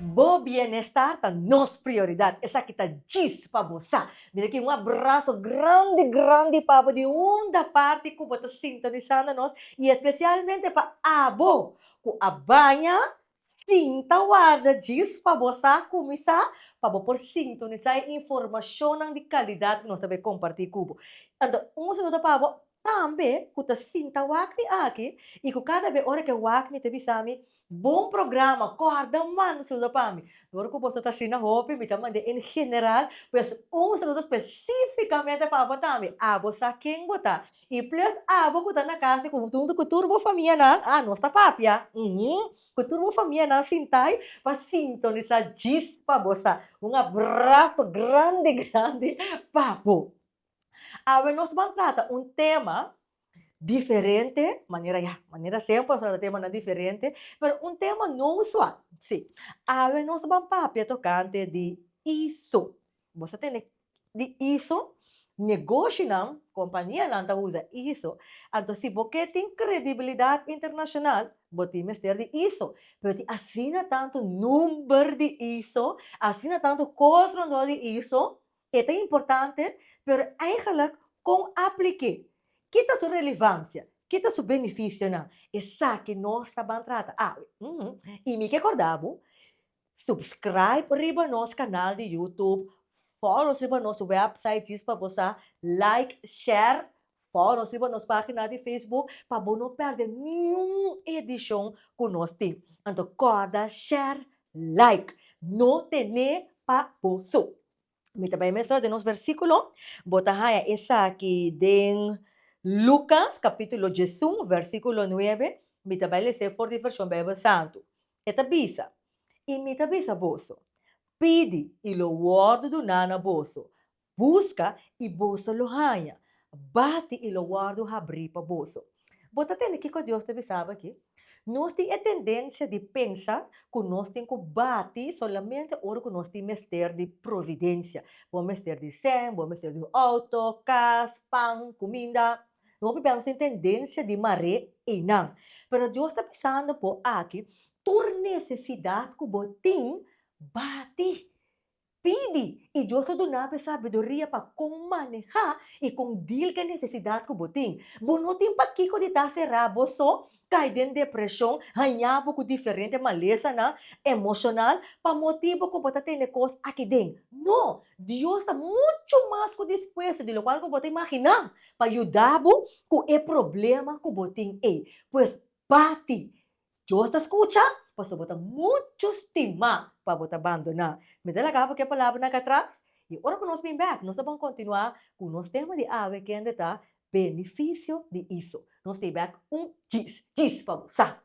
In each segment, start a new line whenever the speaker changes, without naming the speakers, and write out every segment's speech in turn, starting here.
Bo bienestar ta nos prioridad. Esaki ta djis pa bo sa. Mira aki un abraso grandi grandi pa bo di hunda parti cu bo ta sintonisando nos y especialmente pa abo cu a baña sin ta warda djis pa bo sa cuminsa pa bo por sintonisa e informacionnan di calidad cu nos ta bay comparti cu bo. Anto un saludo pa bo Tambe ku ta sinta wak mi aki i ku kada be ora ke wak mi ta bisa mi, Bon programa, kòrda manso lo pa mi. Dor ku boso ta asina hopi, mi ta mand'é en general, pues un saludo spesífikamente pa bo tambe. Abo sa ken bo ta. I plus abo ku ta na kas di huntu ku tur bo famianan, a nos ta papia, uhu, ku tur bo famianan sint'ai pa sintonisá djis pa bo sa. Un abraso grandi grandi pa bo. Awe nos ban trata un tema diferente, manera ya, manera semper nos trata temanan diferente, pero un tema no usual, si. Awe nos ban papia tocante di iso. Bo sa tene di iso? Negoshinan, kompanianan ta usa iso. Anto si bo ke tin kredibilidat internashonal, bo tin mester di iso. Pero tin asina tantu number di iso, asina tantu kos rondó di iso, E ta importante, pero eigenlijk kon a plik'é? Ki ta su relevansia? Ki ta su benefisionan? Esaki nos ta ban trata awe. I mi ke kordá bo, Subscribe riba nos kanal di YouTube, follow nos riba nos website, djis pa bo sa, like, share Por nos riba nos pagina di Facebook pa bo no perde niun edicion cu nos tin. Anto corda share, like. No tene pa bo so. Mi ta bay mesora den nos versiculo. Bo ta haya esaki den Lucas capitulo diesun versiculo nuebe. Mi ta bay lese for di version Bijbel Santu. E ta bisa, Y mi ta bisa boso, Pidi, y lo wordo duna na boso, Buska i boso lo haña, bati i lo wòrdu habrí pa boso. Bo ta tende kiko Dios ta bisaba akí? Nos tin e tendensia di pensa ku nos tin ku bati solamente ora ku nos tin mester di providensia. Bo mester di sèn, bo mester di un outo, kas, pan, kuminda. Hopi bia nos tin tendensia di mar'é einan. Pero Dios ta bisando bo aki, tur nesesidat ku bo tin, bati. Pidi, i Dios lo duna bo e sabiduria pa kon maneha i kon dil ku e nesesidat ku bo tin. Bo no tin pa kiko di ta será bo so, kai den depreshon, hañá bo ku diferente malesanan emoshonal pa motibu ku bo ta tene kos akiden. No! Dios ta muchu mas ku dispuesto di lokual ku bo ta imaginá pa yuda bo ku e problema ku bo tin ei. Pues bati! Dios ta scucha pasobra bo ta mucho stima pa bo ta bandona. Mi ta laga bo ke palabranan aca atras, y ora cu nos bin bek, nos a bon continua cu nos tema di awe kende ta Beneficio di Iso. Nos ta bek un djis, djis pa bo sa!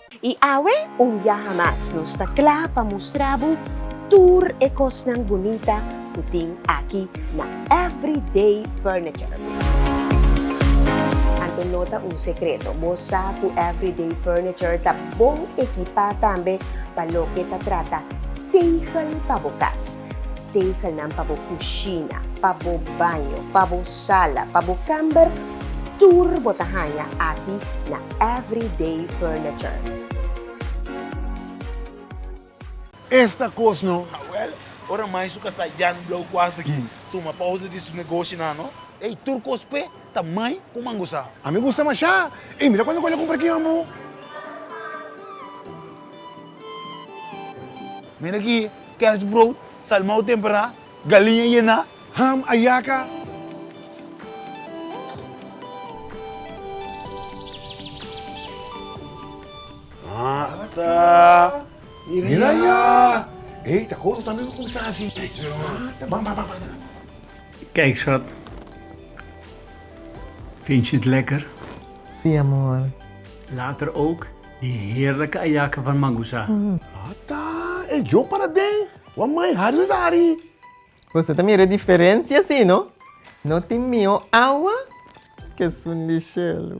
I awe un biaha mas nos ta kla pa mustra bo tur e kosnan bunita ku tin aki na Everyday Furniture. Anto no ta un sekreto, bo sa ku Everyday Furniture ta bon ekipá tambe pa loke ta trata tegel pa bo kas. Tegelnan pa bo kushina, pa bo baño, pa bo sala, pa bo kèmber, tur bo ta haña aki na Everyday Furniture. Esta kos no ta wèl. Ora mai su kasá Jan Blou Kuas ta gin, tuma pausa di su negoshinan no. Ey, tur kos p'e ta mai ku mangosá. A mi gusta mashá. Ey, mira kuantu ku el a kumpra aki, ambu. Mira aki, kerstbrood, salmou temperá, galiña yená, ham, ayaca. Ata! Mira ya! Ey, ta koro tambe pa kuminsá así. Ata! Ban, ban, ban, ban. Kijkshot, Vindt je het lekker? Sí, amor. Later ook. Di herda ka ayaka van mangusa. Ata e djo para den wan mai hari na dari. Boso ta mira e diferencia si no? No tin mihó awa ke esun di shelu.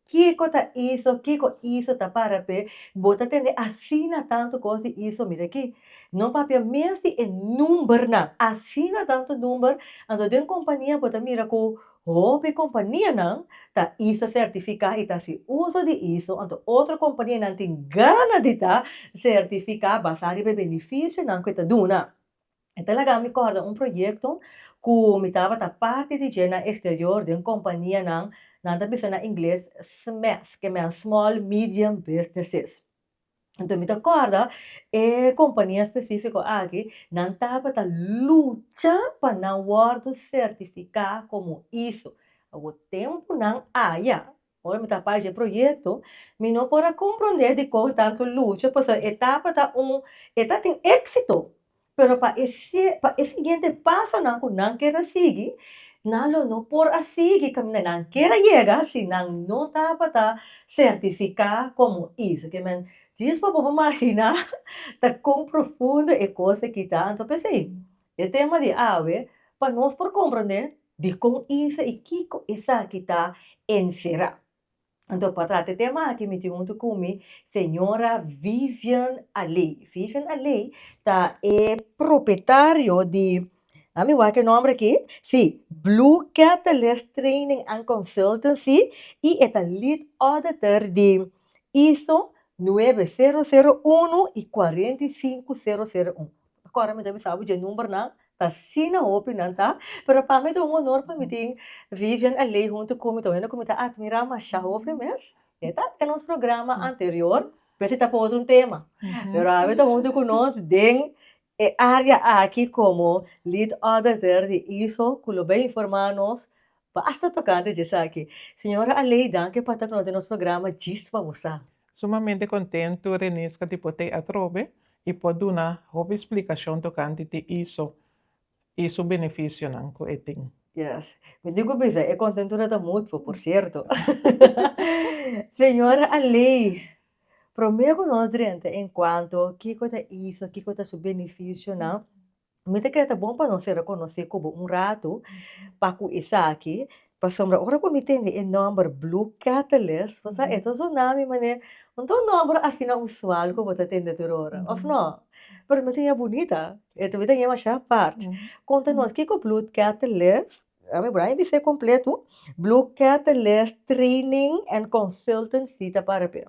Kiko ta iso, kiko iso ta para p'e, bo ta tende asina tantu kos di iso, mira aki. No papia mes di e numbernan, asina tantu number, anto den kompania bo ta mira ku hopi kompanianan ta iso sertifiká i ta hasi uso di iso, anto otro kompanianan tin gana di ta sertifiká basá riba e benefisionan ku e ta duna. E ta laga mi kòrda un proyekto ku mi tabata parti di dje na eksterior den kompanianan, nan ta bisa na ingles SMEs, ke men Small Medium Businesses. Anto mi ta kòrda e kompania spesífiko aki nan tabata lucha pa nan wòrdu sertifiká komo iso. Awo tempu nan aya Ora mi ta papia e proyecto mi no por a comprende dikon tanto lucha pasobra e etapa ta un e ta tin exito pero pa e pa e siguiente pasonan cu nan ker a sigui nan lo no por a sigui caminda nan ker a yega si nan no tabata certifica como is oke men dies pa bobo magina ta con profundo e cos aki ta anto pesey E tema di awe pa nos por comprende dicon isa y kico esaki ta encera. Anto pa trata e tema aki mi tin hunto cu mi Sra. Vivian Aley. Vivian Aley ta e propietario di, a mi wak e nomber aki, si, Blue Catalyst Training and Consultancy y e ta Lead Auditor di ISO nuebe sero sero uno y cuarenta y sinku sero sero un. Kòrda mi ta bisa bo dje numbernan ta asina hopi nan ta pero pa mi ta un honor pa mi tin Vivian Alei huntu ku mi ta un hende ku mi ta atmira masha hopi mes e ta e nos programa anterior pues e ta pa otro un tema pero awe e ta huntu ku nos den e área aki komo lead auditor di iso ku lo bai informa nos Pa asta toca ante dje esaki. Señora Aleida, ke pa ta ku no den nos programa djis pa bo sa. Sumamente contento Renisca di por t'e atrobe y por duna hopi explicacion tocante t'e iso y su beneficionan cu e tin. Yes. Mi tin cu bisa e contentura ta mutuo, por cierto. Señora Alei, prome cu nos drenta en cuanto kico ta iso, kico ta su beneficionan, Mi ta kere ta bon pa nos ser rekonosé kobo un ratu pa ku esaki, pasobra ora ku mi tende e nòmber Blue Catalyst, bo sa e ta sona mi manera un ta un nòmber asina usual ku bo ta tende tur ora, òf nò? Pero mi ta ña bunita, e ta bira ña masha apart. Konta nos kiko Blue Catalyst, a mi bra mi bisa e kompletu, Blue Catalyst Training and Consultancy ta para p'e.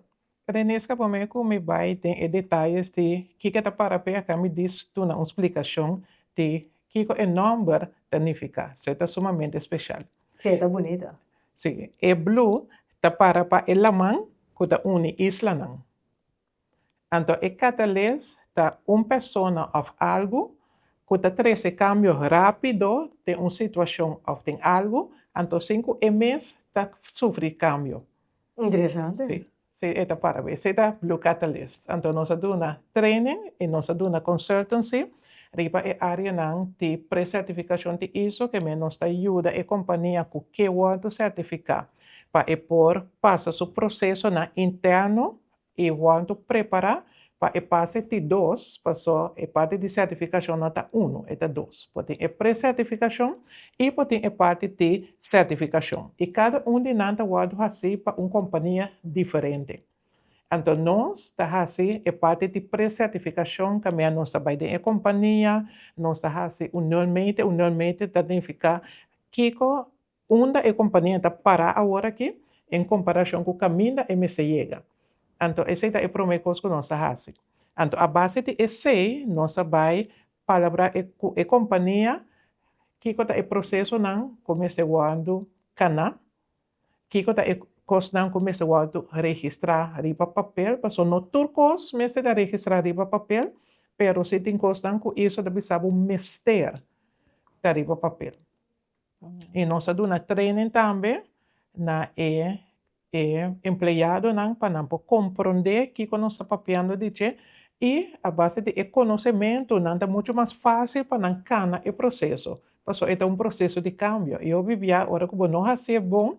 Rene scapa me cu mi bay den e detalles di kico e ta para p'e aca mi diz duna un splicacion di kico e nomber ta nifica. So e ta sumamente special. Si, e ta bunito. Si, e blue ta para pa e laman cu ta uni islanan. Anto e catales ta un persona of algu cu ta trece cambio rapido den un situacion of den algu, anto sin cu e mes ta sufri cambio. Interesante. Sí, sí e ta para bo. Esei ta Blue Catalyst. Anto nos a duna training i nos a duna consultancy riba e areanan di precertificacion di iso ke men nos ta yuda e compania cu ke wordo certifica pa e por pasa su procesonan interno E Juan to prepará pa e pase ti dos, pasó e parti di sertifikashon no ta unu, e ta dos. Por tin e pre-sertifikashon i por tin e parti ti sertifikashon. I kada un di nan ta wòrdu hasí pa un kompania diferente. Anto nos ta hasi e parti ti pre-sertifikashon kaminda nos ta bai den e kompania, nos ta hasi union meeting, union meeting ta nifiká kiko Unda e kompania ta pará awor aki en komparashon ku kaminda e mester yega? Anto esei ta e promé kos ku nos ta hasi. Anto a base di esei nos a bai palabrá ku e kompania kiko ta e prosesonan ku mester wòrdu kaná, kiko ta e kosnan ku mester wòrdu registrá riba papel, pasobra no tur kos mester ta registrá riba papel, pero si tin kosnan ku Iso ta bisa bo mester ta riba papel. Y nos a duna training tambe na e e empleadonan pa nan por compronde kico nos ta papiando di dje y a base di e conocemento nan ta mucho mas facil pa nan cana e proceso, pasobra e ta un proceso di cambio. Y hopi bia ora cu bo no hacié bon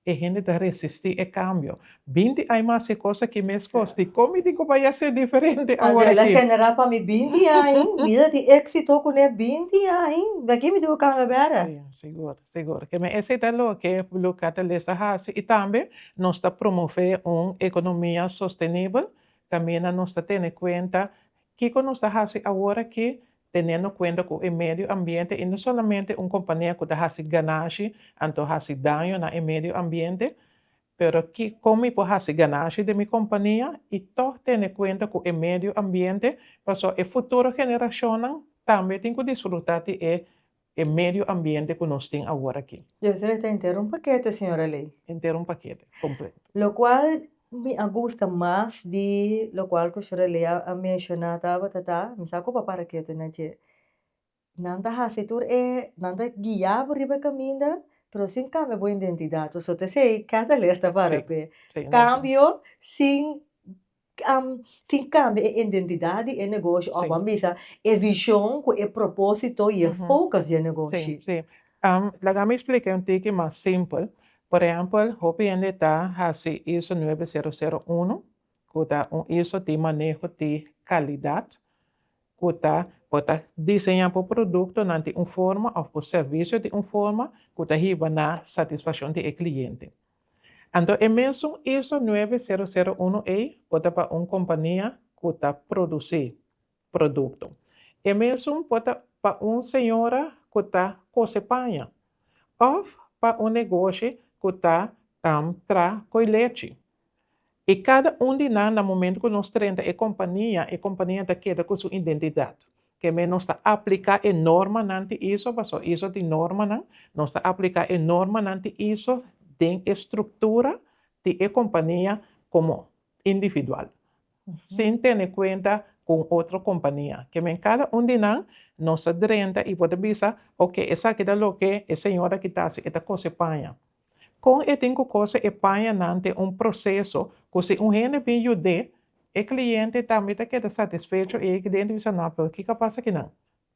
E hende ta resisti e kambio. Binti ai mas e kos aki mes kos. Dikon mi tin ku bai a ser diferente awor aki? Adela genera pa mi binti ai. Vida tin éksito kuné binti ai. Aki mi tin ku kambia bèra. Si, sigur, sigur. Keme esei ta loke Blue Catalyst a hasi i tambe nos ta promové un ekonomia sostenibel kaminda nos ta tene kuenta Kiko nos ta hasi aworakí, tenendo kuenta ku e medio ambiente i no solamente un kompania ku ta hasi ganashi anto hasi daño na e medio ambiente? Pero kikon mi por hasi ganashi den mi kompania i tòg tene kuenta ku e medio ambiente, pasó e futuro generashonnan tambe tin ku disfrutá di e E medio ambiente cu nos tin awor aki. Yo solo ta entero un paquete, señora Ley. Entero un paquete, completo. Locual mi a gusta mas di locual cu señora Ley a menciona tabata ta, mi sa cu bo a para ketu na dje. Nan ta haci tur e, nan ta guia bo riba e caminda, pero sin cambia bo identidad, pasobra ta esey cada les ta para pe cambio sin. sin kambia e identidat di e negoshi òf ban bisa e vishon ku e propósito i e fokus di e negoshi. Sí, sí. Laga mi spliká un tiki mas simpel. Por ehèmpel, hopi hende ta hasi ISO nuebe sero sero unu, ku ta un ISO di maneho di kalidat, ku ta bo ta diseñá bo produktonan di un forma òf bo servisio di un forma ku ta hiba na satisfakshon di e kliente. Anto e mesun ISO nuebe sero sero unu ei por ta pa un kompania ku ta produsí produkto. E mesun por ta pa un señora ku ta kose paña òf pa un negoshi ku ta tra koi lechi. I kada un di nan, na momento ku nos trenta e kompania, e kompania ta keda ku su identidat. Kemey nos ta apliká e normanan ti iso, pasó iso tin normanan, nos ta apliká e normanan ti iso den e struktura ti e kompania komo individual, sin tene kuenta ku un otro kompania. Kemey kada un di nan nos ta drenta i por ta bisa, Oke, esaki ta loke e señor aki ta hasi, e ta kos e paña. Kon e tin ku kose e paña nan den un proseso ku si un hende bin yud'é, e kliente tambe ta keda satisfecho i e ke den ta bisa, No, pero kiko a pasa aki nan?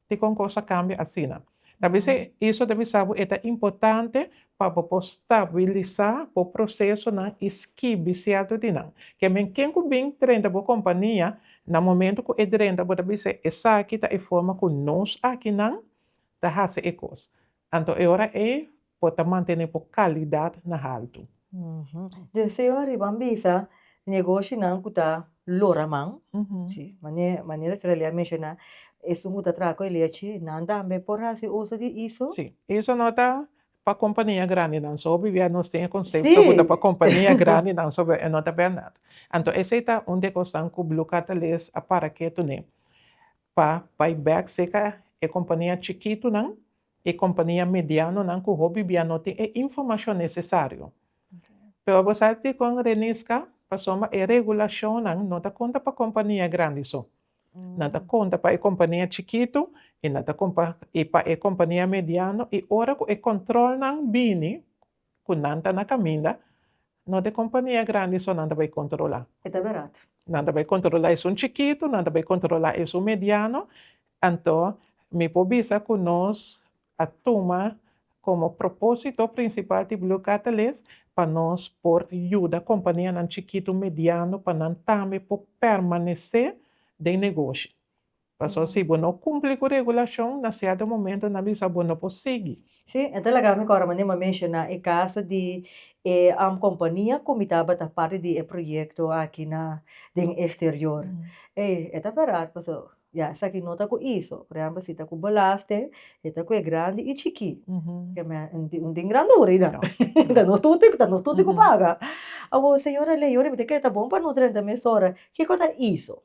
Dikon kos a kambia asina? Ta bisa Iso ta bisa bo e ta importante pa bo por stabilisa bo prosesonan i skibi sierto di nan. Kemen ken ku bin drenta bo kompania, na momento ku e drenta bo ta bisa, Esaki ta e forma ku nos aki nan ta hasi e kos. Anto e ora ei por ta mantené por kalidat na haltu. Dje señor riba an bisa negoshinan ku ta lora man, si, manera manera Sra. Lea menshoná, esun ku ta traha ku e lechi, nan tambe por hasi uso di iso? Si. Iso no ta pa kompania grandinan so, bibia nos tin e konsepto ku ta pa kompania grandinan so, e no ta bèrnat. Anto esei ta un de kosnan ku Blue Cartellers a para ke tun'é. pa bai bek cerca e compania chikitunan y compania medianonan cu hopi bia no tin e informacion necesario. Pero bo sa dicon Renisca? Pasobra e regulacionnan no ta conta pa compania grandi so. Nan ta conta pa e compania chikitu y nan ta compa y pa e compania mediano y ora cu e controlnan bini Cu nan ta na caminda, no t'e compania grandi so nan ta bay controla. E ta berat. Nan ta bay controla esun chikitu, nan ta bay controla esun mediano, anto mi por bisa cu nos a tuma como proposito principal di Blue Catalyst pa nos por yuda companianan chikitu, mediano pa nan tambe por permanece den negoshi. Pasobra si bo no kumpli ku regulashon, na sierto momentu nan bisa bo no por sigui. Sí, e ta laga mi kòrda mane mi a menshoná e kaso di e kompania ku mi tabata parti di e proyekto aki na den eksterior. Ei, e ta bèrat pasobra ya esaki no ta ku iso. Por ehèmpel si ta ku belasten, e ta ku e grandi i chikí. Ke mè un tin grandura ei dan. Ta nos tutu, ta nos tutu ku paga. Awor, señora Leon, mi ta kere ta bon pa nos renta mesora. Kiko ta iso?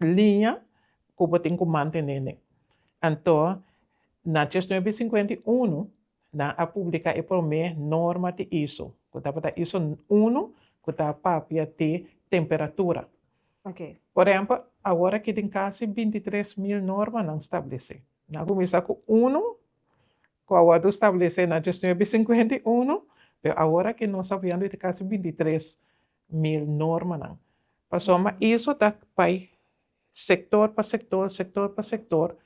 liña ku bo tin ku mantené nen. Anto na dies nuebe sinkuenta i unu nan a publiká e promé norma di iso, ku tabata iso unu ku ta papia di temperatura. Por ehèmpel, awor aki tin kasi binti tres mil norma nan stablesé. Nan a kuminsá ku unu ku a wòrdu stablesé na dies nuebe sinkuenta i unu, pero awor aki nos hablando di kasi binti tres mil normanan. Pasobra eso ta bai sector pa sector, sector pa sector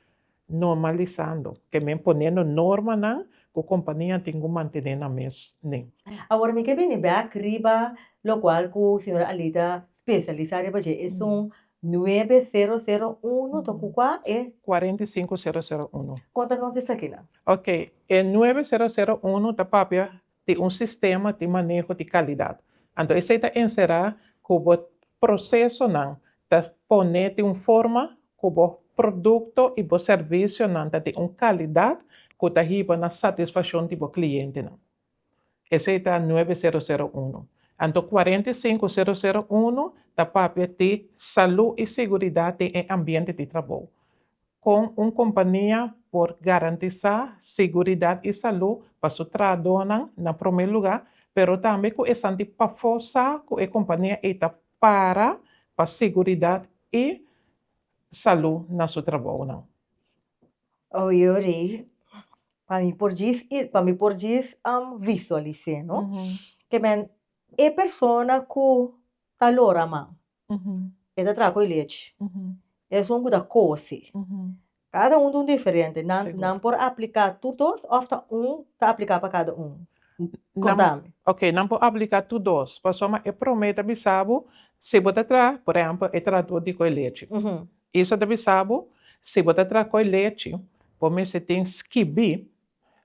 normalisando, kemen ponendo normanan cu companianan tin cu mantene nan mes nen. Awor mi ke bini bek riba locual cu señora Alida specialisa riba dje, esun nuebe sero sero uno to cu cua e? Cuarenta y cinco sero sero uno. Con ta nos esaki nan? Ok, e nuebe sero sero uno ta papia di un sistema di maneho di kalidat. Anto esei ta enserá ku bo prosesonan ta pone di un forma ku bo produkto i bo servisionan ta di un kalidat ku ta hiba na satisfakshon di bo klientenan. Esei ta nuebe sero sero unu. Anto kuarenta i sinku sero sero unu ta papia di salú i siguridat den e ambiente di trabou. Kon un kompania por garantisá siguridat i salú pa su trahadónan na promé lugá, pero tambe ku esanti pafó sa ku e kompania ei ta para pa siguridat i salú na su trabounan? Yori, pa mi por djis pa mi por djis visualis'é no, kimen e persona ku ta lora man, e ta traha cu e lechi. Esun cu ta cosi. Cada un ta un diferente. Nan, nan por aplica tur dos of ta un ta aplica pa cada un? Contami. Ok, nan por aplica tur dos. Pasobra e prome ta bisa bo si bo ta traha, por ehemplo, e trator di coe lechi. Eso ta bisa bo si bo ta traha coe lechi, bo mester tin skibi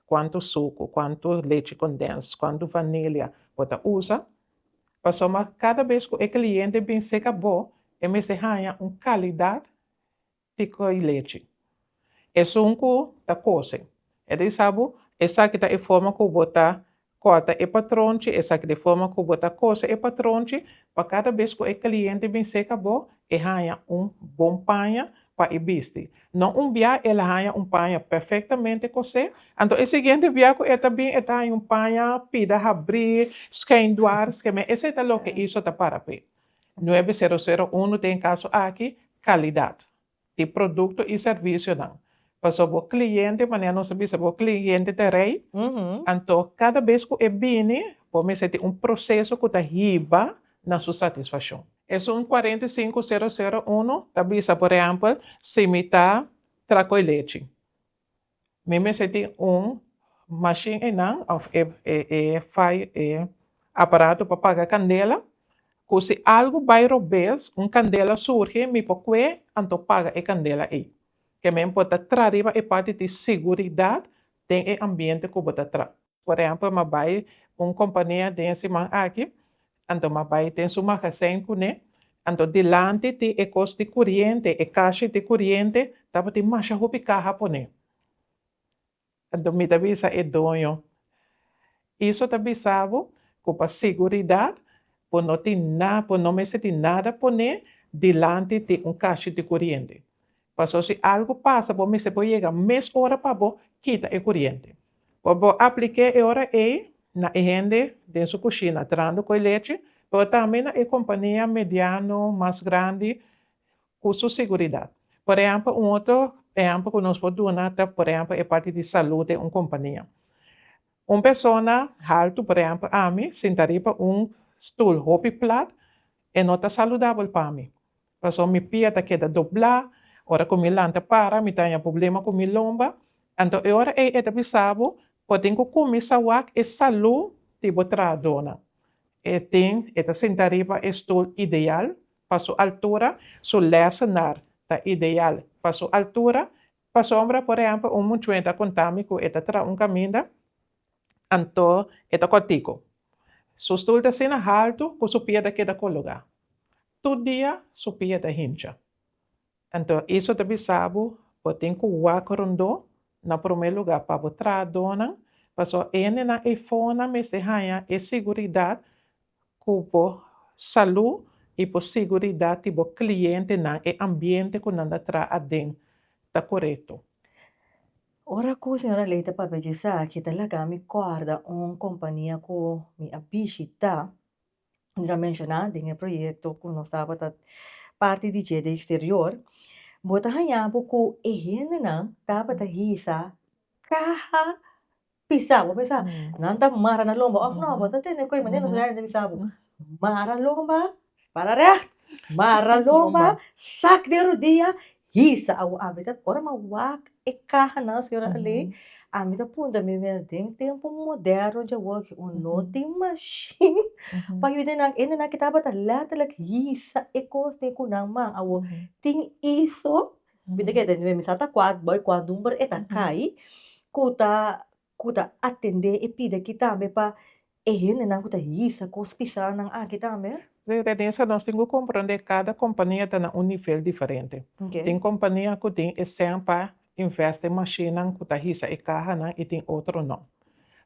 cuantu sucu, cuantu lechi condens, cuantu vanilia bo ta usa, Pasobra ma kada bes ku e kliente bin seka bo, e mester haña un kalidat tiko di lechi. Esun ku ta kose. E ta bisa bo, Esaki ta e forma ku bo ta kòrta e patronchi, esaki ta e forma ku bo ta kose e patronchi, pa kada bes ku e kliente bin seka bo, E haña un bon paña pa e bisti. Na un bia el a haña un paña perfectamente cosé, anto e siguiente bia cu e ta bin e ta haña un paña pida habrí, schijn dwars, ke men esey ta loke Iso ta para p'e. Nuebe sero sero uno ta en caso aki, calidad di producto y servicionan. Paso bo cliente, manera nos ta bisa bo cliente ta rey, anto cada bes cu e bini bo mester tin un proceso cu ta hiba na su satisfaccion. Esun cuarenta y cinco cero cero uno ta bisa por ehempel si mi ta tra coy lechi mi mester tin un machine eynan of e aparato pa paga candela cu si algo bay robes un candela surgi mi por cue anto paga e candela ey. Ke men por ta traha riba e pòrta di siguridat den e ambiente ku bo ta traha. Por ehèmpel m'a bai un kompania den e siman aki, anto m'a bai den su magazijn kuné, anto dilanti di e kos di kuriente, e kashi di kuriente, tabatin masha hopi kaha poné. Anto mi ta bisa e doño, Iso ta bisa bo ku pa siguridat bo no tin na, bo no mester tin nada poné dilanti di un kashi di kuriente. Paso si algu pasa bo mester por yega mes ora pa bo kita e kuriente. Por bo aplik'é e ora ei na e hende den su kushina trando ku e lechi, pero tambe na e kompania mediano, mas grandi, ku su seguridat. Por ehèmpel, un otro ehèmpel ku nos por duna ta por ehèmpel e parti di salú den un kompania. Un persona haltu, por ehèmpel ami, sinta riba un stul hopi plat, e no ta saludabel pa mi. Pasobra mi pia ta keda doblá, ora ku mi lanta para mi ta haña problema ku mi lomba. Anto e ora ei e ta bisa bo, Bo tin ku kuminsá wak e salú di bo trahadónan. E tin, e ta sinta riba e stul ideal pa su altura, su lèsenar ta ideal pa su altura. Pasobra, por ehèmpel, un muchu'e ta konta mi ku e ta traha un kaminda, anto e ta kòrtiku. Su stul ta asina haltu ku su pia ta keda kologá. Tur dia su pia ta hincha. Anto Iso ta bisa bo, Bo tin ku wak rondó, na promé lugá pa bo trahadónan, pasobra hendenan eifonan mester haña e siguridat ku bo salú i bo siguridat di bo klientenan, e ambiente ku nan ta traha aden, ta korekto. Ora ku señora Ley ta papia dje esaki, ta laga mi kòrda un kompania ku mi a bishitá. Nos a menshona den e proyekto ku nos tabata parti di dje den eksterior, bo ta haña bo ku e hendenan tabata hisa kaha pisá. Bo a pensa, nan ta mara nan lomba òf nò? Bo ta tende ku e manera nos drainan ta bisa bo, mara lomba, para règt, mara lomba, sak den rudia Hisa a wak a ora mi a wak e kahanan señora Alein a mi ta puntra mi mes den tempo moderno dje wak o no tin mashin pa yuda nan ende nan ke tabata letterlijk hisa e kosnan ku nan man awo tin iso bida ke den mi sa ta kual boy kual number e ta kai ku ta ku ta atendé e pidi akí tambe pa e hendenan ku ta hisa kos pisá nan aki tambe? Si, Denise, nos tin ku komprondé kada kompania ta na un nivel diferente. Tin kompania ku tin e sèn pa invèst den mashinnan ku ta hisa e kahanan i tin otro no.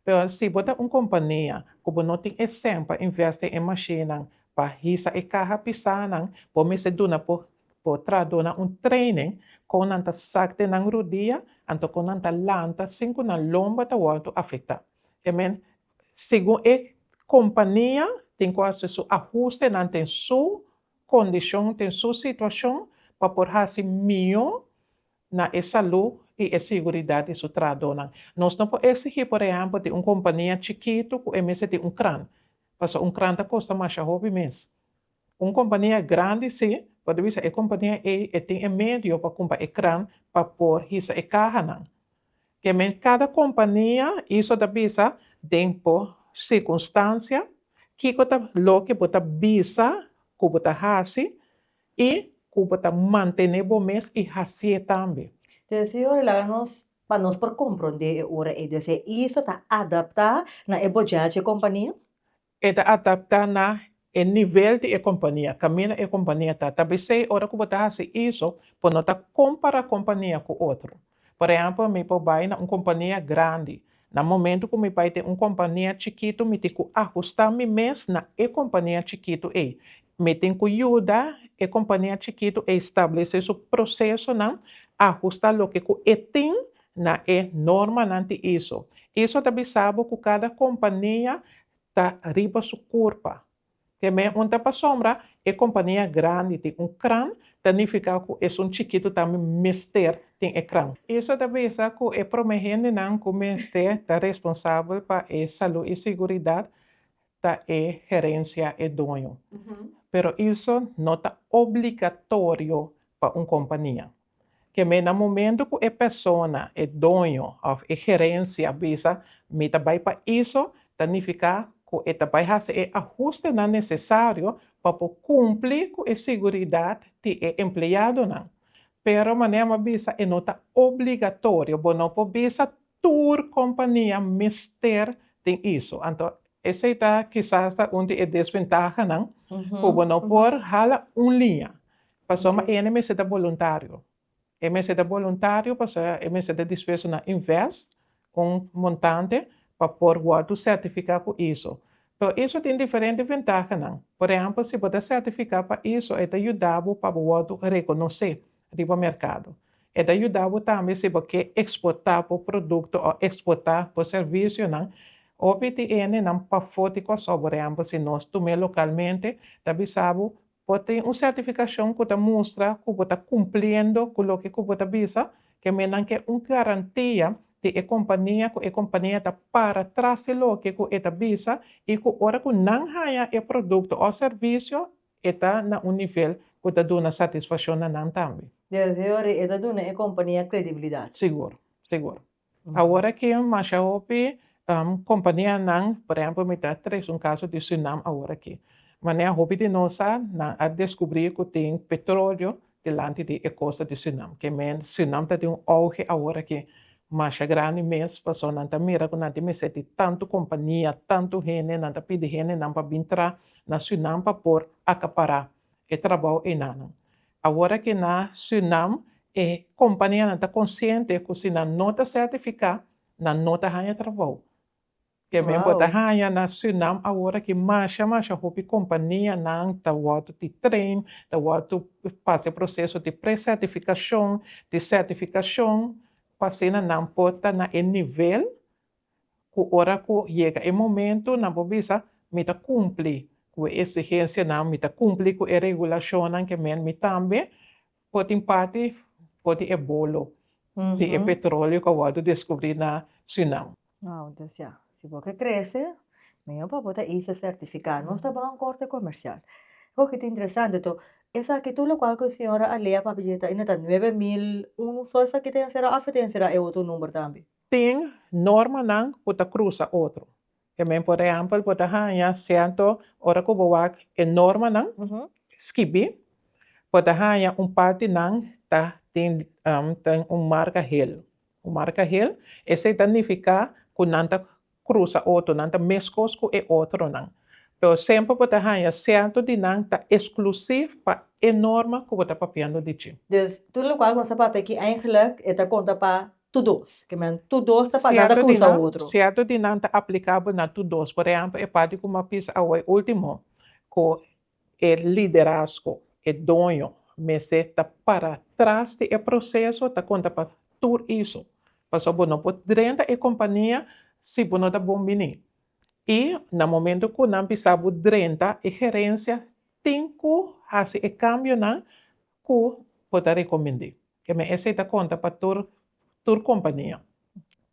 Pero si bo ta un kompania ku bo no tin e sèn pa invèst den e mashinnan pa hisa e kaha pisá nan, bo mester duna por Por tra duna un training kon nan ta sak den nan rudia anto kon nan ta lanta sin ku nan lomba ta wordu afektá. E men, segun e kompania tin ku hasi su ahustenan den su kondishon, den su situashon pa por hasi mihó na e salú i e siguridat di su trahadónan. Nos no por eksigí por ehèmpel di un kompania chikitu ku e mester tin un kran, pasobra un kran ta kosta masha hopi mes. Un kompania grandi sí, por ta bisa e kompania ei e tin e medio pa kumpa e kran pa por hisa e kahanan. Kemen kada kompania iso ta bisa den bo sikunstansia, kiko ta loke bo ta bisa ku bo ta hasi i ku bo ta mantené bo mes i hasié tambe. Te e Señor laga nos pa nos por komprondé e ora ei. Dor esei iso ta adaptá na e bojachi e kompania? E ta adaptá na e nivel di e kompania, kaminda e kompania ta. Ta bisei ora ku bo ta hasi eso, bo no ta kompará kompania ku otro. Por ehèmpel, mi por bai na un kompania grandi. Na momentu ku mi bai den un kompania chikitu, mi tin ku ahustá mi mes na e kompania chikitu ei. Mi tin ku yuda e kompania chikitu ei stablesé su prosesonan, ahustá loke ku e tin na e normanan di iso. Iso ta bisa bo ku kada kompania ta riba su kurpa. Te men un ta pa sombra, e kompania grandi tin un kran, ta nifiká ku esun chikitu tambe mester tin e kran. Iso ta bisa ku e promé hendenan ku mester ta responsabel pa e salú i siguridat ta e gerensia, e doño. Pero iso no ta obligatorio pa un kompania. Kem'é na momento ku e persona, e doño òf e gerensia bisa, Mi ta bai pa iso, ta nifiká ku e ta bai hasi e ahustenan nesesario pa por kumpli ku e siguridat di e empleadonan. Pero manera m'a bisa e no ta obligatorio, bo no por bisa tur kompania mester tin iso. Anto esei ta kisas ta un di e desventahanan ku bo no por hala un liña. Pasobra ma ene mester ta boluntario. E mester ta boluntario pasobra e mester ta dispuesto na invest un montante pa por wòrdu sertifiká ku iso. Tò, iso tin diferente ventahanan. Por ehèmpel, si bo ta sertifiká pa iso e ta yuda bo pa bo wòrdu rekonosé riba merkado. E ta yuda bo tambe si bo ke eksportá bo produkto òf eksportá bo servisionan hopi di enenan pafó di Kòrsou, por ehèmpel, si nos tum'é lokalmente ta bisa bo Bo tin un sertificacion cu ta mustra cu bo ta cumpliendo cu loke cu bo ta bisa, ke mendan ke un garantia di e compania cu e compania ta para tras di loke cu e ta bisa y cu ora cu nan haya e producto of servicio e ta na un nivel cu ta duna satisfaccion na nan tambe. Di asina yori e ta duna e compania credibilidad. Sigur, sigur. Awor aki masha hopi kompanianan, por ehemplo mi ta tres un kaso di Surinam awor aki. Manera hopi di nos sa, nan a deskubrí ku tin petrolio dilanti di e kosta di Surinam. Ke men Surinam ta den un ouge awor aki masha grandi mes, paso nan ta mira ku nan tin mester di tantu kompania, tantu hende, nan ta pidi hendenan pa bin tra na Surinam pa por akapará e trabao einan. Awor aki na Surinam e kompanianan ta konsiente ku si nan no ta sertifiká, nan no ta haña trabao. Kèmen bo ta haña na Surinam awor aki masha masha hopi kompanianan ta wòrdu di train, ta wòrdu pasa e proseso di pre-sertifikashon, di sertifikashon pa asina nan por ta na e nivel ku ora ku yega e momento nan por bisa, Mi ta kumpli ku e eksigensianan, mi ta kumpli ku e regulashonnan ke men, mi tambe por tin parti for di e bolo di e petroleo ku a wòrdu deskubrí na Surinam. Wou, dus ya, si bo ke krese, mihó pa bo ta isla sertifiká. Nos ta baha un korte komersial. Kiko ke ta interesante to, esaki tur lokual ku e señora a lea, papi, dje ta inda ta nuebe mil unu, so esaki ta enserá òf e ta enserá e otro number tambe? Tin normanan ku ta krusa otro. E men por ehèmpel bo ta haña sierto ora ku bo wak e normanan skibí bo ta haña un partinan ta tin tin un marka hel, un marka hel esei ta nifiká ku nan ta cruza otro nan ta mescos cu e otro nan. Pero semper bo ta haya cierto di nan ta exclusief pa e norma cu bo ta papiando di dje. Dus tur locual cu nos ta papia aki eindelijk e ta conta pa tur dos. Ke men tur dos ta pa nada cruza otro. Cierto di nan ta aplicabo na tur dos. Por ehempel e parti cu mi a bisa awo e ultimo cu E liderazgo, e doño, mester ta para tras di e proseso ta konta pa tur iso, pasobra bo no por drenta e kompania si bo no ta bon biní. I na momentu ku nan bisa bo drenta, e gerensia tin ku hasi e kambionan ku bo ta rekomend'é. E mester ta konta pa tur kompania.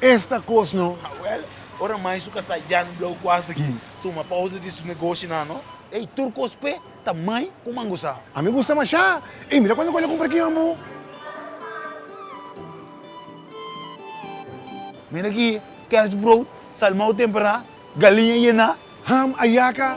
Esta cos no. Awel, ora mai su casa Jan Blauw cuas aki, tuma pausa di su negoshi nan no. Ey, tur cos pe ta mai cu mangusa. A mi gusta masha. Ey, mira cuanto cola cumpra aki ambo. Mira aki, kerstbrood, salmao tempera, galiña yena. Ham, ayaca.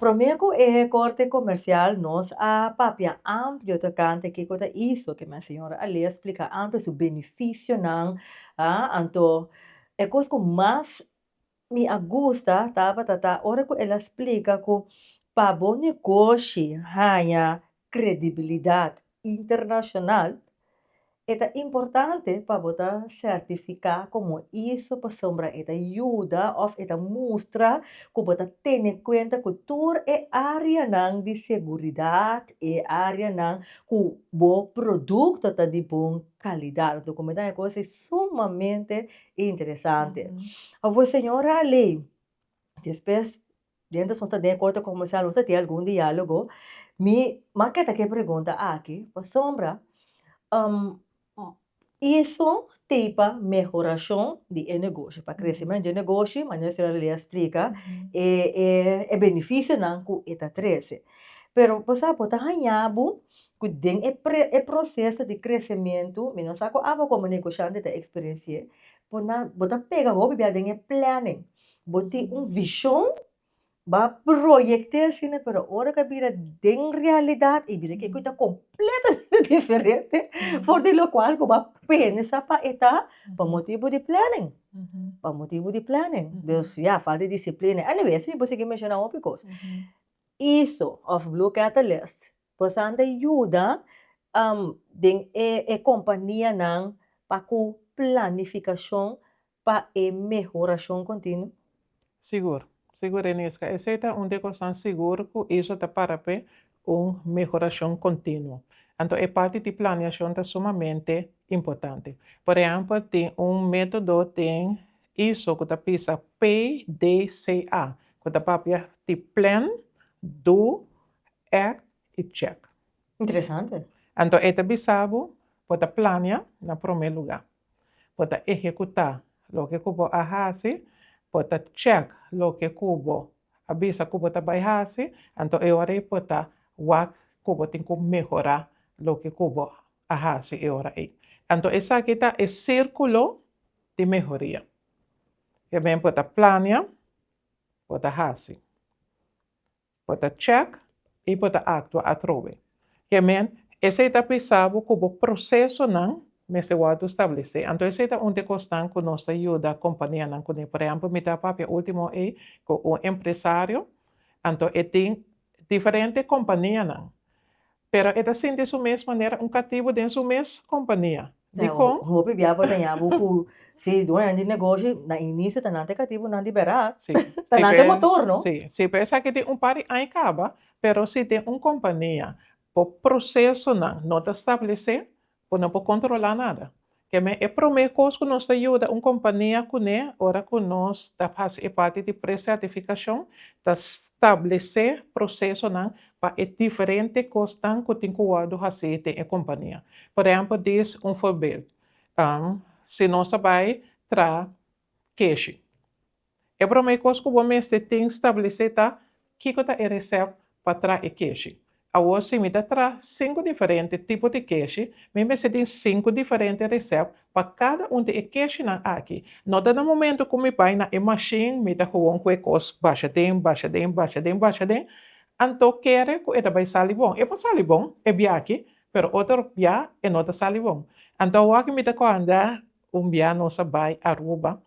Promé ku e korte komersial nos a papia amplio tokante kiko ta iso ke mi a señora a lei a splika amplio su benefisionan a anto e kos ku mas mi a gusta tabata ta ora ku el a splika ku pa bo negoshi haña kredibilidat internashonal, e ta importante pa bo ta sertifiká komo iso pasobra e ta yuda òf e ta mustra ku bo ta tene kuenta ku tur e áreanan di seguridat, e áreanan ku bo produkto ta di bon kalidat. Anto ku mi ta e kos ei sumamente interesante. Awo señora Alei, despues Mientras nos ta den e corte comercial nos ta tin algun dialogo mi ma keda cu e pregunta aki pasobra eso tepa mehoracion di e negoshi pa crecimento di e negoshi manera e señora Lea a splica e beneficionan cu e ta trece pero bo sa bo ta haya bo cu den e proceso di crecimento mi no sa cu abo como negociante ta experienci'e Bo na bo ta pega hopi bia den e planning bo tin un vision ba proyecte asina pero ora ka bira den realidad y bira kico ta completamente diferente for di locual cu ba pensa pa e ta pa motibo di planning pa motibo di planning dus ya falta di disciplina anyway asi bo sigi menciona hopi cos eso of blue catalyst Boso a ta yuda den e kompanianan pa ku planifikashon pa e mehorashon kontinuo? Sigur. Sigur e Niska. Esei ta un di e kosnan sigur ku ISO ta para p'e un mehorashon kontinuo. Anto e parti di planeashon ta sumamente importante. Por ehèmpel tin un método den ISO ku ta bisa PDCA, ku ta papia di Plan, Do, Act i Check. Interesante. Anto e ta bisa bo bo ta plania na prome luga, bo ta ehecuta loke cu bo a haci, bo ta check loke cu bo a bisa cu bo ta bay haci, anto e ora ey bo ta wak cu bo tin cu mehora loke cu bo a haci e ora ey. Anto esaki ta e circulo di mehoria. Primer bo ta plania, bo ta haci. Bo ta check y bo ta actua atrobe. Ke men, esey ta pisa bo cu bo procesonan mester wordo stablece. Anto esey ta un te cosnan cu nos ta yuda companianan cu ne. Por ehemplo, mi ta papia ultimo ey cu un empresario, anto e tin diferente companianan. Pero e ta sinti su mes manera un katibu den su mes kompania. Dikon? Un hopi bia por dañá bo ku si dueñonan di negoshi na inisio ta nan ta e katibunan di bera, ta nan ta e motor, no? Sí, sí, p'e esaki tin un par di aña kaba, pero si den un kompania bo prosesonan no ta stabilis'é, Bo no por controla nada. Keme e prome cos cu nos ta yuda un compania cu ne ora cu nos ta haci e parti di pre-certificacion ta stablece procesonan pa e diferente cosnan cu tin cu wordo haci den e compania. Por ehempel dis un voorbeeld, si nos ta bay traha keshi. E promé kos ku bo mester tin stablesé ta kiko ta e resèp pa tra e keshi. Awor si mi ta tra sinku diferente tipo di keshi, mi mester tin sinku diferente resèp pa kada un di e keshinan aki. No ta na momentu ku mi bai na e mashin mi ta gewoon ku e kos basha den, basha den, basha den, basha den, anto kere ku e ta bai sali bon. E por sali bon e biaaki, pero otro bia e no ta sali bon. Anto awor aki mi ta koanda Un bia nos a bai Aruba,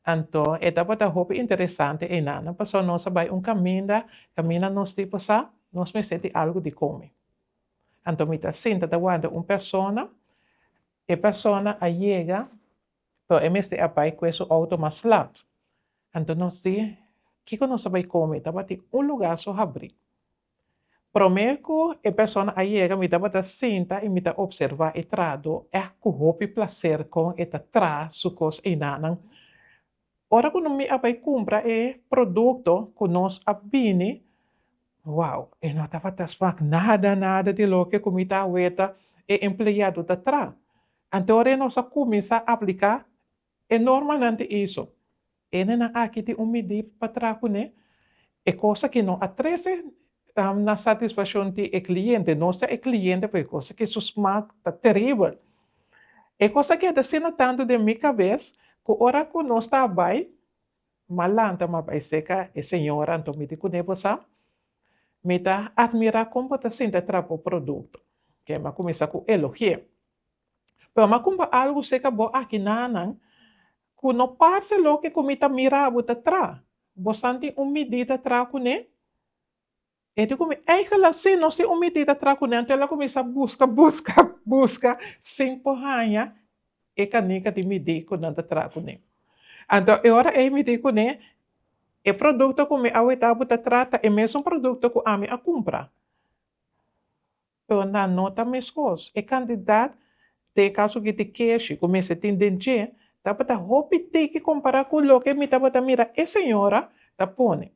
anto e tabata hopi interesante einana, pasobra nos a bai un caminda, caminda nos tipo sa, nos mester tin algo di comi. Anto mi ta sinta ta warda un persona, e persona a yega, pero e mester a bai cue su auto mas laat. Anto nos di, kico nos ta bai comi? Tabatin un lugar so habri. Prome ku e persona a yega mi tabata sinta i mi ta opservá e trado èk ku hopi plaser kon e ta tra su kos einanan. Ora ku mi a bai kumpra e produkto ku nos a bini, wow, e no tabata smak nada nada di loke ku mi ta awor ta e empleado ta tra. Anto ora nos a kuminsá apliká E normanan di Aesop. E nenan aki tin un midí pa traha ku ne. E kosa ku no a trese na satisfakshon di e kliente, no sa e kliente p'e kosa ku su smak ta teribel. E kosa a keda asina tantu den mi kabes ku ora ku nos ta bai, m'a lanta m'a bai seka e señora anto mi di ku ne, Bo sa, mi ta admirá kon bo ta sinti a traha bo produkto. Kema kuminsá ku elogi'é. Broma cu bo algu seca bo aki nanan cu no parce loke cu mi ta mira bo ta tra. Bo santi un midí ta tra cune? E di cu mi, Angela, sí, no si un midí ta tra cune. Anto el a cuminsa busca, busca, busca sin por haña e canica di midí cu nan ta tra cune. Anto e ora ey midí cune, E producto cu mi a weta bo ta tra ta e mesun producto cu ami a cumpra. Pero nan no ta meskos. E kantidat te kaso ki te keshi ku mester tin den dje tabata hopi tiki kompará ku loke mi tabata mira e señora ta pone.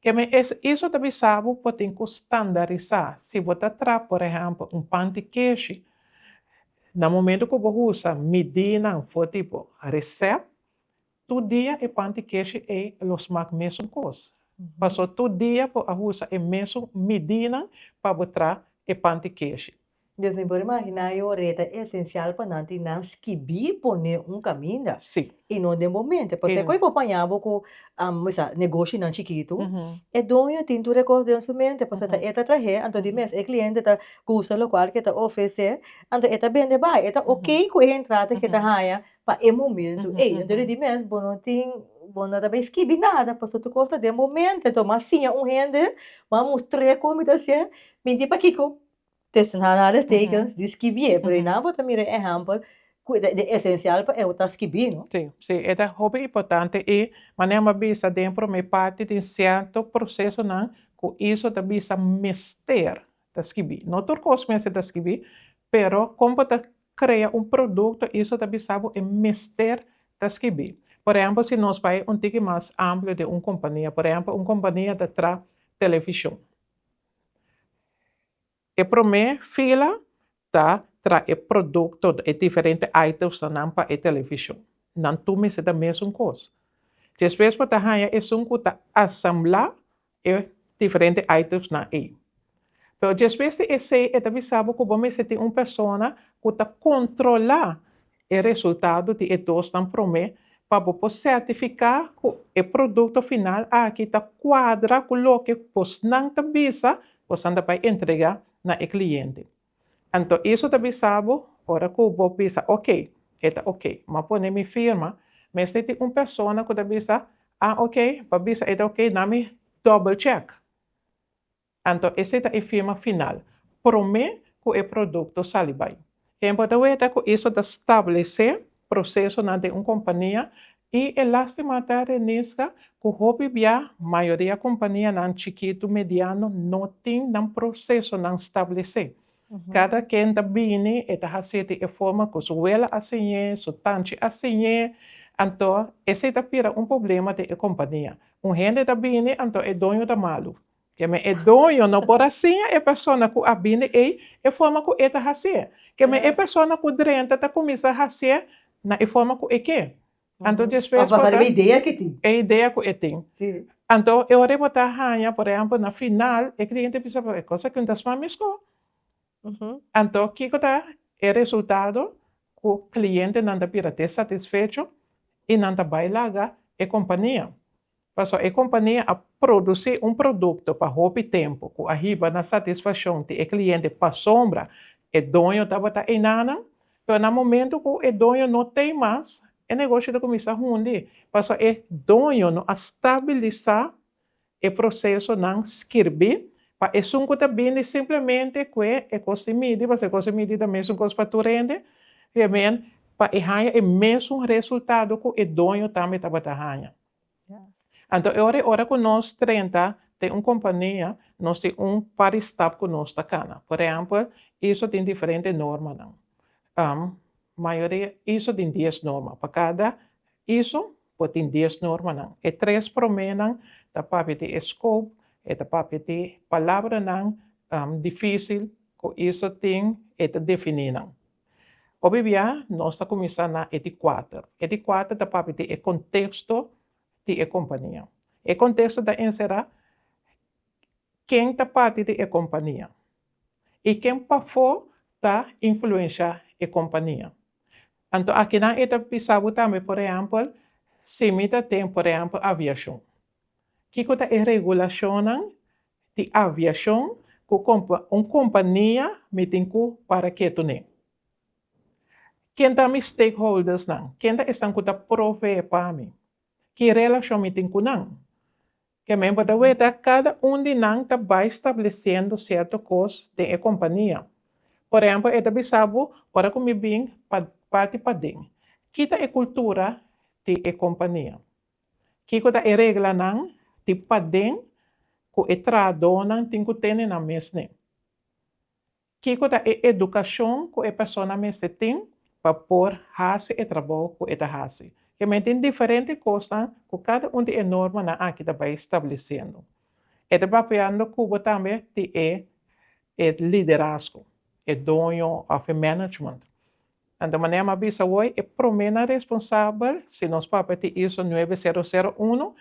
Ke mi a hiso ta bisa bo por tin ku standarisá. Si bo ta traha, por ehèmpel, un panti keshi, na momentu ku bo usa midínan for tipo resèp, Tur dia e panty keshi ei lo smak mesun kos. Paso tur dia bo a usa e mesun midinan pa bo tra e panty keshi. Dios mi por imagina e oreta esencial pa nan tin nan skibi pone un kaminda Si. i no den bo mente. Paso e kos por paña bo ku bisa negoshinan chikitu, e doño tin tur e kos den su mente paso ta e ta trahe anto di mes e kliente ta gusta lokual ke ta ofrese anto e ta bende bai e ta oke ku e entrada ke ta haña Pa e momento ey, entonces di mes bo no tin, bo no ta bay skibi nada, pasobra tur cos ta den momento, entonces bo a siña un hende, bo a mustr'é como mi ta haci'é, minti pakico, test na analistekens di skibi'é, pero dina bo ta mira e ehempel cu ta e esencial pa e cu ta skibi, no? Sí, sí, e ta hopi importante y manera mi a bisa den e prome parti tin cierto procesonan cu eso ta bisa mester ta skibi. No tur cos mester ta skibi, pero como bo ta Crea un producto y eso ta bisa bo e mester ta skibi. Por ehempel si nos bay un tiki mas amplio den un compania, por ehempel un compania ta traha television. E prome fila ta traha e producto, e diferente items nan pa e television. Nan tur mester ta mesun cos. Despues bo ta haya esun cu ta asambla e diferente itemsnan ei. Pero djespues di esei e ta bisa bo ku bo mester tin un persona ku ta kontrolá e resultado di e dosnan promé pa bo por sertifiká ku e produkto final aki ta kuadra ku loke bosnan ta bisa bosnan ta bai entregá na e kliente. Anto Isu ta bisa bo, ora ku bo bisa ok, e ta ok. M'a pone mi firma. Mester tin un persona ku ta bisa, Ah, ok, pa bisa e ta ok, na mi double check. Anto esei ta e firma final, promé ku e produkto sali bai. Hember ta wete ku Isu ta stablesé prosesonan den un kompania i e lástima ta renisga ku hopi bia mayoria kompanianan chikitu mediano no tin nan prosesonan stablesé. Kada ken ta bini e ta hasi di e forma ku su wela a siñ'é, su tanchi a siñ'é, anto esei ta pira un problema den e kompania. Un hende ta bini anto e doño ta malu. Keme e doño no por a siña e persona ku a bini ei e forma ku e ta hasié? Keme e persona ku drenta ta kuminsá hasié na e forma ku e ke? Anto despues bo ta. E idea ku e tin. Anto e ora bo ta haña, por ehèmpel, na final, e kliente bisa bo, e kos aki no ta sma meskó. Anto kiko ta e resultado ku klientenan ta bira te satisfecho i nan ta bai laga e kompania? Pasobra e kompania a produsí un produkto pa hopi tempu ku a hiba na satisfakshon di e kliente pasobra e doño tabata einanan. Pero na momentu ku e doño no t'ei mas, e negoshi ta kuminsá hundi pasobra e doño no a stabilisá e prosesonan skirbí pa esun ku ta bini simplemente kue e kos di midi, pasobra e kos di midi ta mesun kos pa tur hende, pa e haña e mesun resultado ku e doño tambe tabata haña. Anto e ora ora ku nos trenta den un kompania, nos tin un padi stap ku nos ta kana. Por ehèmpel, iso tin diferente normanan. Mayoria iso tin dies norma. Pa kada iso por tin dies normanan. E tres promènan ta papia di e skop, e ta papia di palabranan difísil ku iso tin e ta definí nan. Hopi bia nos ta kuminsá na e di kuater. E di kuater ta papia di e konteksto di e kompania. E konteksto ta enserá ken ta parti di e kompania i ken pafó ta influenshá e kompania. Anto akinan e ta bisa bo tambe, por ehèmpel, si mi ta den, por ehèmpel, aviashon, kiko ta e regulashonnan di aviashon ku un kompania mi tin ku para ketu nei. Ken ta mi stakeholdersnan? Ken ta esnan ku ta provee pa mi? Ki relashon mi tin ku nan? Ke men por ta weta kada un di nan ta bai stablesiendo sierto kos den e kompania. Por ehempel, e ta bisa bo, ora ku mi bin pa parti paden, ki ta e kultura di e kompania? Kiko ta e reglanan di paden ku e trahadónan tin ku tene nan mesni? Kiko ta e edukashon ku e persona mester tin pa por hasi e trabou ku e ta hasi? Ke men tin diferente kosnan ku kada un di e normanan aki ta bai stablesiendo. E ta papiando ku bo tambe tin e liderazgo, e doño òf e management. Anto manera m'a bisa hoy, e prome nan responsabel si nos papia tin ISO nuebe sero sero uno,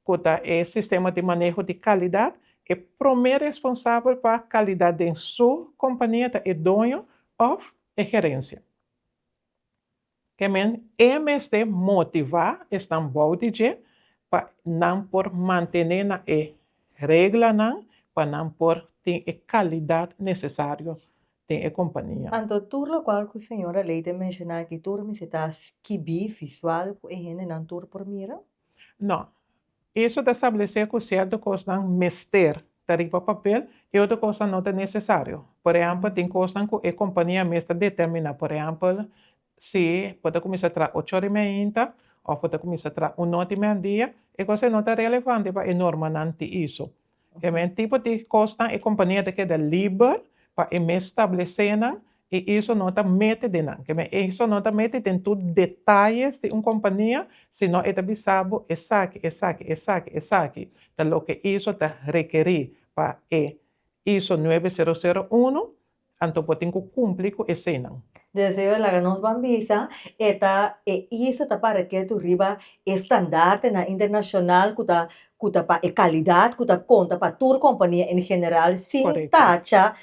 cu ta e sistema di maneho di calidad, e prome responsabel pa calidad den su compania ta e doño of e gerencia. K'e men e mester motiva esnan bou di dje pa nan por mantene na e reglanan pa nan por tin e calidad necesario den e kompania. Anto tur lokual ku señora Leite a menshoná aki tur mester ta skibí visual ku e hendenan tur por mira? No. Eso ta stablesé ku sierto kosnan mester ta riba papel i otro kosnan no ta nesesario. Por ehèmpel, tin kosnan ku e kompania mes ta determiná, por ehèmpel, Si bo ta kuminsá traha ocho ora i mei hinta òf bo ta kuminsá traha un nòt i mei dia, e kosnan no ta relevante pa e normanan di iso. E men tipo di kosnan e kompania ta keda liber pa e mes stablesé nan i iso no ta mete den nan. Ke men iso no ta mete den tur detayes di un kompania, sino e ta bisa bo esaki, esaki, esaki, esaki ta loke iso ta rekerí pa e iso nuebe sero sero uno Anto bo tin ku kumpli ku eseinan. Deseo e laga nos ban bisa e ta e iso ta pa reketu riba e standartenan internashonal ku ta ku ta pa e kalidat ku ta konta pa tur kompania en general sin tacha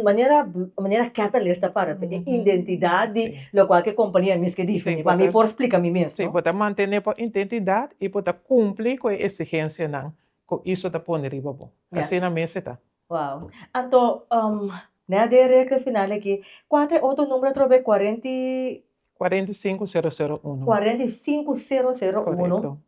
manera manera Catalyst ta para e identidat di lokual ke kompania mes ke difini pa mi por splika mi mes. Si bo ta mantene bo identidat i bo ta kumpli ku e esigensianan ku iso ta pone riba bo asina mes e ta. Wow. Anto, um, ne a den rekta final aki, kua ta e otro numero atrobe? Cuarenta y... Cuarenta y cinco cero cero uno. Cuarenta y cinco cero cero uno. Correcto.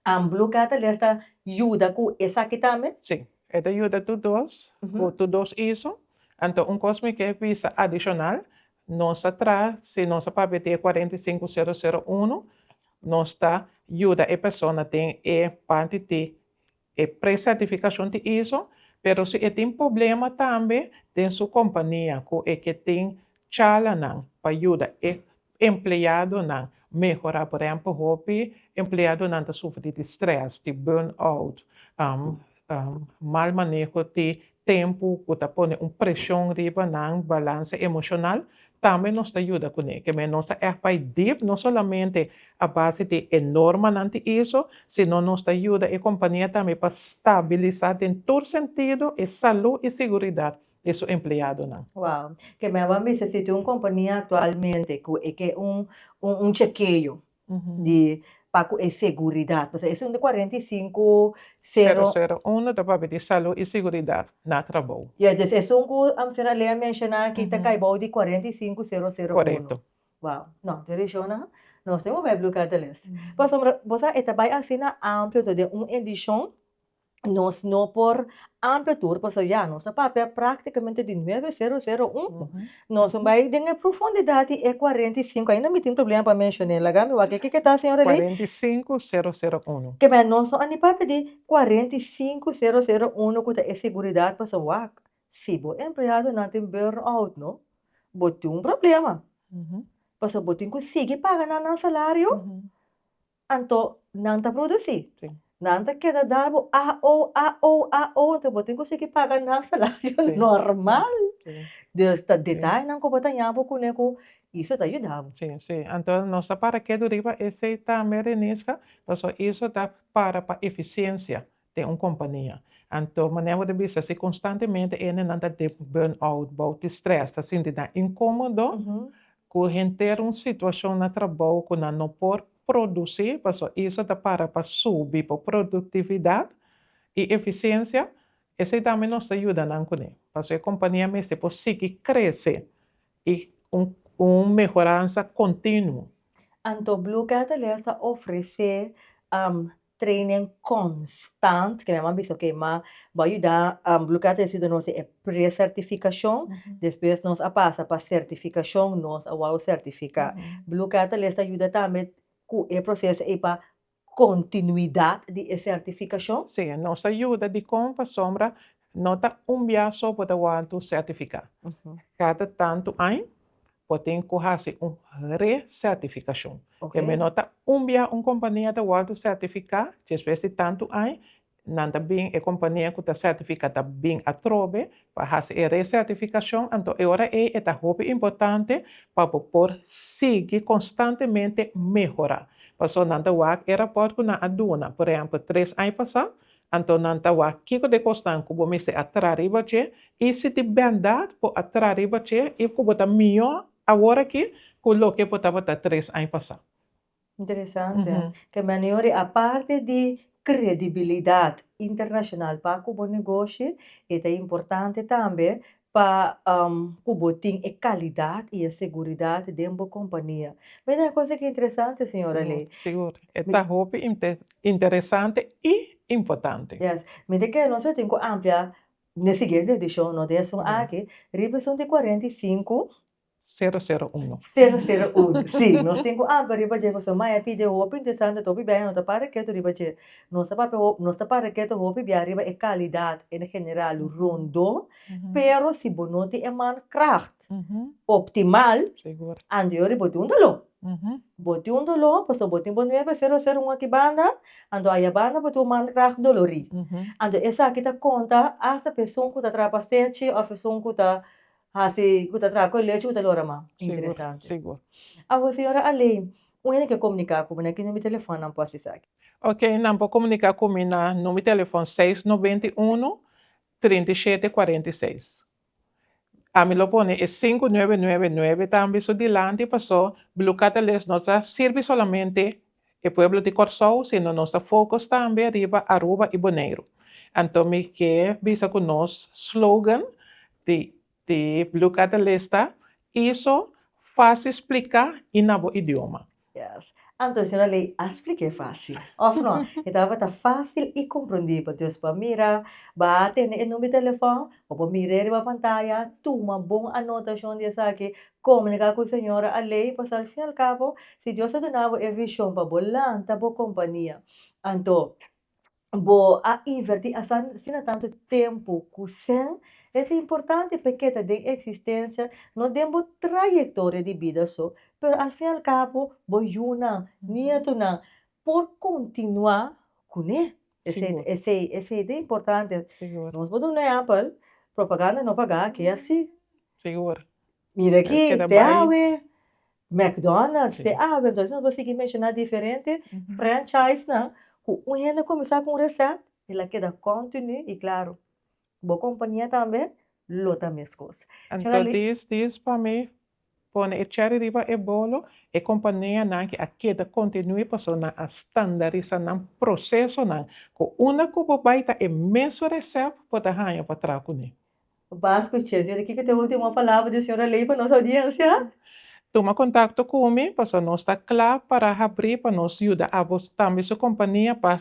And Blue Catalyst ta yuda cu esaki tambe? Sí, e ta yuda tur dos, Ujú. cu tur dos iso. Anto, un cos mi ke bisa adicional, nos a tra, si nos a papia di e cuarenta y cinco cero cero uno, nos ta yuda e persona den e parti di E pre-sertificacion tin iso, pero si e tin problema tambe den su compania cu e ke tin chalanan pa yuda e empleadonan mehora, por ehempel hopi empleadonan ta sufri di stress, di burn-out, mal maneho di tempu ku ta pone un preshon riba nan balanse emoshonal tambe nos ta yuda kuné. Kèmen nos ta ègt bai dip, no solamente a base di e normanan di iso, sino nos ta yuda e kompania tambe pa stabilisá den tur sentido e salú i siguridat di su empleadonan. Wow. Kèmen a ban bisa si tin un kompania aktualmente ku e ke un un chekeo di pa ku e seguridat, pasobra esei unda kuarenta i sinku sero. Sero sero unu ta papia di salu i seguridat na trabou. Ya, dus e esun ku Amster Alea a menshoná aki ta kai bou di kuarenta i sinku sero sero unu. Korekto. Wou, no, den reshonnan nos tin un wèpblu kada lès. Pasobra bo sa e ta bai asina amplio, enton den un edishon nos no por amplia tur paso ya nos a papia practicamente di nueve sero sero un nos a bai den e profundidad di e cuarenta y cinco ain a mi tin problema pa mencion'e laga mi wak kiki ta señora Eli? Cuarenta y cinco sero sero uno. Ke men nos no a ni papia di cuarenta y cinco sero sero uno ku ta e seguridad paso wak si bo empleadonan tin burn out no bo tin un problema paso bo tin ku sigui paga nan nan salario Anto nan ta produci. Sí. Nan ta keda dar bo AO, AO, AO, anto bo tin cu sigui paga nan salario Sí. normal. Sí. Dus ta detainan cu bo ta yapo cune cu Iso ta yuda bo. Sí, sí. Anto nos ta para kedo riba esey tambe, Renisca, pasobra Iso ta para pa eficiencia. den un kompania. Anto manera bo ta bisa, si konstantemente hendenan ta den burn-out, bou di strès, ta sinti nan inkómodo ku henter un situashon na trabou ku nan no por produsí, paso eso ta para pa subi bo produktividat i efisiensia, esei tambe nos ta yuda nan kuné. Paso e kompania mester por sigui krese i un mehoransa kontinuo. Anto Blue Catalyst ta ofresé training constant ke mi aman bisa oke ma bo a yuda Blue Cat a yuda nos e precertificacion despues nos a pasa pa certificacion nos a wou certifica Blue Cat ta lesta yuda tambe cu e proceso ey pa continuidad di e certificacion. Si nos ta yuda dicon pasobra No ta un bia so bo ta wanta un sertifica. Cada tantu añ bo tin cu haci un re-certificacion. Debe no ta un bia un compania ta wanta certifica, despues di tantu añ nan ta bin, e compania cu ta certifica ta bin atrobe pa haci e re-certificacion, anto e ora ey e ta hopi importante pa bo por sigui constantemente mehora. Pasobra nan ta wak e rapport cu nan a duna, por ehempel tres añ pasa Anto nan ta wak kiko de kosnan ku bo mester a traha riba dje, i si di bèrdad bo a traha riba dje i ku bo ta mihó awor aki ku loke bo tabata tres aña pasá. Interesante. Ke manera i aparte di kredibilidat internashonal pa ku bo negoshi, e ta importante tambe pa ku bo tin e kalidat i e seguridat den bo kompania. Mi ta kos aki interesante, señora Ley. Sigur, sigur. E ta hopi interesante i importante. Yes. Mi ta kere nos lo tin ku ampliá den e siguiente edishon, no den esun aki, riba esun di kuarenta i sinku. Sero sero uno. Sero sero uno. Sí, nos tin cu ampa riba dje cos, maya pi dje hopi interesante ta hopi biaha no ta para keto riba dje. Nos ta papia hopi, nos ta para keto hopi biaha riba e calidad en general rondó, pero si bo no tin e mankracht optimal, andio riba bo tin un doló. Bo tin un doló pasobra bo tin bo nuebe sero sero uno aki banda, anto aya banda bo tin un mankracht dolorí. Anto esaki ta conta hasta pa esun cu ta traba stechi of esun cu ta Hasi ku ta traha ku e lechi ku ta lora man. Interesante. Sigur, sigur. Awor señora Alein, un hende ke komuniká ku bo, na ki number di telefòn nan por hasi esaki? Ok, nan por komuniká ku mi na number di telefòn seis noventa i uno, trinta i shete, kuarenta i seis. Ami lo pone e sinku nuebe nuebe nuebe tambe su dilanti, pasó Blue Catalyst no ta sirbi solamente E pueblo di Kòrsou, sino nos ta focus tambe riba Aruba y Boneiru. Anto mi ke bisa cu nos slogan di di Blue Catalista iso fácil splica y na bo idioma. Yes. Anto e señora Ley a splique fácil, of no? E tabata fácil y comprendibel. Dus bo a mira, bo a tende e number di telefòn, bo por mir'e riba pantaya, tuma bon anotacion di esaki, Komunika ku señora Alei pasá al fin al kabo si Dios a duna bo e vishon pa bo lanta bo kompania anto bo a invertí asina tantu tempu ku sen e ta importante pa e ke ta den eksistensia no den bo trayektoria di bida so pero al fin al kabo bo yunan nietunan por kontinuá kuné Esei ta importante nos por duna ehempel propaganda no paga KFC mira aki te awe McDonald's te awe entonces nos por sigui menciona diferente franchisenan cu un hende a comenzar cu un recept el a keda continu y claro Bo kompania tambe lo ta mescos. Anto dis dis pa mi pone e cherry riba e bolo, e kompania nan ki a keda continui paso nan a standarisa nan proceso nan cu una cu bo bay ta e mesun recep bo ta hanja pa traha cune. Bas cu che jodi kico ta e ultimo palabra di Sra. Ley pa nos audiencia? Tuma contacto cu mi paso nos ta cla para habri pa nos yuda abo tambe su kompania pa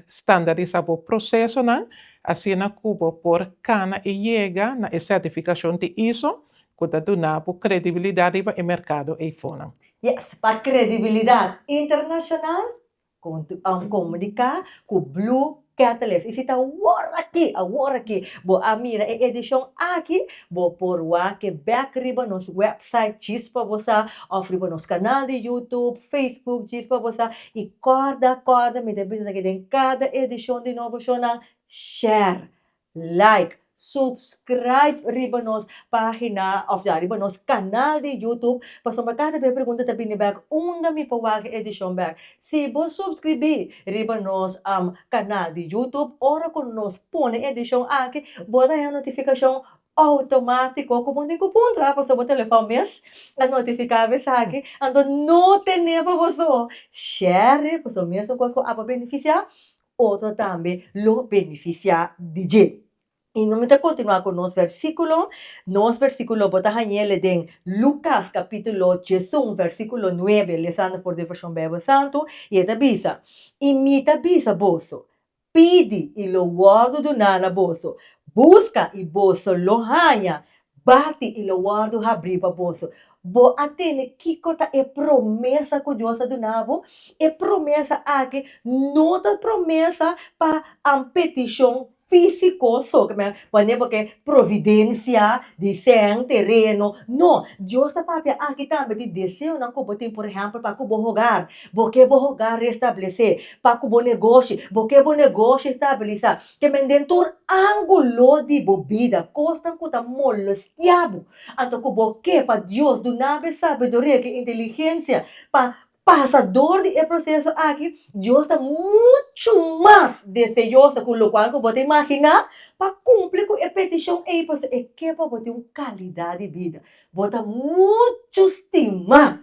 standarisa bo proceso nan Asina ku bo por kana i yega na e sertifikashon di iso ku ta duna bo kredibilidat riba e merkado ei fonan. Yes, pa kredibilidat internashonal kontinua un komuniká ku Blue Catalyst. I si ta awor aki, awor aki, bo a mira e edishon aki, bo por wak bèk riba nos wèpsait, Chispa bo sa, òf riba nos kanal di YouTube, Facebook, Chispa bo sa, I kòrda kòrda mi ta bisa ke den kada edishon di Nobo Shownan share, like, subscribe riba nos pagina òf ya riba nos kanal di Youtube pasobra kada bes pregunta ta bini bèk unda mi por wak e edishon bèk. Si bo subskribí riba nos kanal di Youtube ora ku nos pone e edishon aki bo ta hèn notifikashon Outomatiko ku bo ni ku puntra paso bo telefon mes a notifiká bo esaki, anto no ten'é pa boso share paso mes un kos ku abo a benefisiá otro tambe lo benefisiá di dje. I no mi ta kontinuá ku nos versíkulo, nos versíkulo bo ta hañ'é den Lukas kapítulo diesun versíkulo nuebe, lesando for devoushon Beibel Santu, i e ta bisa, I mi ta bisa boso, Pidi, i lo wòrdu duná na boso, buska, i boso lo haña, bati, i lo wòrdu habrí pa boso. Bo a tene kiko ta e promesa ku Dios a duna bo? E promesa akí no ta promesa pa an petishon físiko so, ke men pon'é bo ke providensia di sèn, tereno. No, Dios ta papia akí tambe di deseonan ku bo tin, por ehèmpel pa ku bo hogar. Bo ke bo hogar restablesé, pa ku bo negoshi, bo ke bo negoshi stabilisá, te men den tur ángulo di bo bida, kosnan ku ta molestiá bo. Anto ku bo ke pa Dios duna bo e sabiduria ku e inteligensia pa pasa dor di e proseso aki, Dios ta muchu mas deseoso ku lokual ku bo ta imaginá pa kumpli ku e petishon ei, pasobra e ke pa bo tin un kalidat di bida. Bo ta muchu stimá